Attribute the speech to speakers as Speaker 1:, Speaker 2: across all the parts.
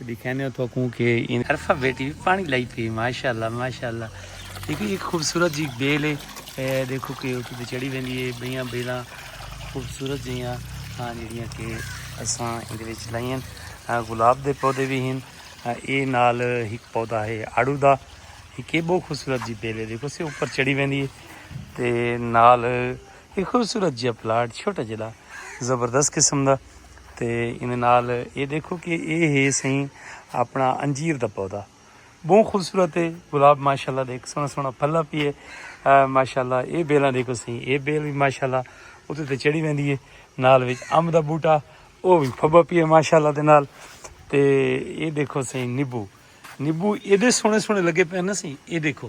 Speaker 1: ڈکھینیو تو کوں کہ این ارفا بیٹی وی پانی لائی پی ماشاءاللہ ماشاءاللہ دیکھو ایک خوبصورت جی بیل ہے دیکھو کہ اتو تے چڑھی ویندی ہے بیاں بیلاں خوبصورت جیاں ہاں جڑیاں کہ اساں ایندے وچ لائیاں گلاب دے پودے بھی ہیں اے نال ایک پودا ہے آڑو دا ایک بہت خوبصورت جی بیل ہے دیکھو سے اوپر چڑھی ویندی ہے تے نال ایہ خوبصورت جیہا پلاٹ چھوٹا جیہا زبردست قسم دا تے ایندے نال اے دیکھو کہ اے ہے سائیں اپنا انجیر دا پودا بہت خوبصورت ہے گلاب ماشاءاللہ دیکھ سونا سونا پھلا پی ہے ماشاءاللہ اے بیلاں دیکھو سائیں اے بیل بھی ماشاءاللہ اوتے تے چڑھی ویندی ہے نال وچ امب دا بوٹا او بھی پھبا پی ہے ماشاءاللہ دے نال تے اے دیکھو سائیں نیبو نیبو ایڈے سونے سونے لگے پے نا سائیں اے دیکھو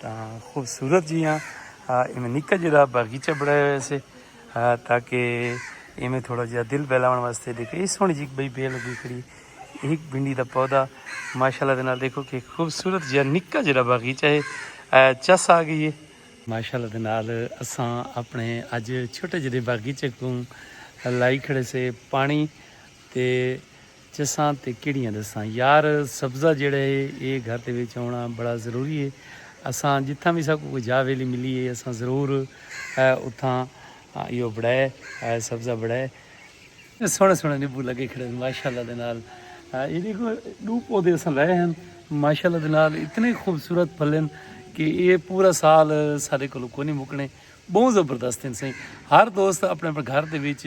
Speaker 1: تاں خوبصورت جیاں ایویں نکا جڑا باغیچہ بڑھایا ہوئے سے تاکہ ایویں تھوڑا جہا دل بہلاون واسطے دیکھو یہ سونی جی بئی بیل لگی کھڑی ایک بھنڈی دا پودا ماشاءاللہ دے نال دیکھو کہ خوبصورت جہا نکا جڑا باغیچہ ہے چس آ گئی ہے ماشاءاللہ دے نال اساں اپنے اج چھوٹے جڑے باغیچے کو لائی کھڑے سے پانی تے چساں تے کیڑیاں ڈساں یار سبزہ جیڑھا ہے اے گھر دے وچ ہونا بڑا ضروری ہے اساں جتھاں وی ساکوں کوئی جاہ ویلی ملی ہے اساں ضرور اتھاں ایہو بڑھائے سبزہ بڑھائے۔ سوہنے سوہنے نیبو لگے کھڑے ہن ماشاءاللہ دے نال اے دیکھو ڈو پودے اساں لائے ہن ماشاءاللہ دے نال اتنے خوبصورت پھل ہن کہ اے پورا سال ساڈے کولوں کونی مکنے بہوں زبردست ہن سائیں ہر دوست اپنے اپنے گھر دے وچ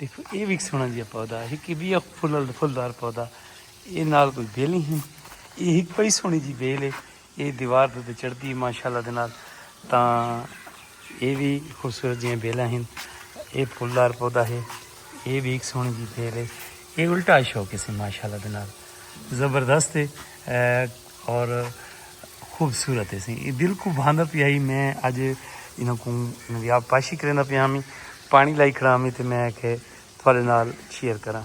Speaker 1: ݙیکھو اے وی سونا جیا پودا ہے کہ بیا پھل پھلدار پودا اے نال کوئی بیل نہیں ہے اے ہک پئی سونی جی بیل ہے اے دیوار دے تے چڑھدی ہے ماشاءاللہ دے نال تاں اے وی خوبصورت جیاں بیلاں ہیں اے پھلدار پودا ہے اے وی ہک سونی جی بیل ہے اے الٹا شوکیس ہے ماشاءاللہ دے نال زبردست ہے اور خوبصورت ہے سی دل کو بھاندا پیا ہی میں اج انہاں کو انہاں دی آب پاشی کریندا پیا ہاں پانی لائی کھڑا ہاں تے میں کہ تھوڑے نال شیئر کراں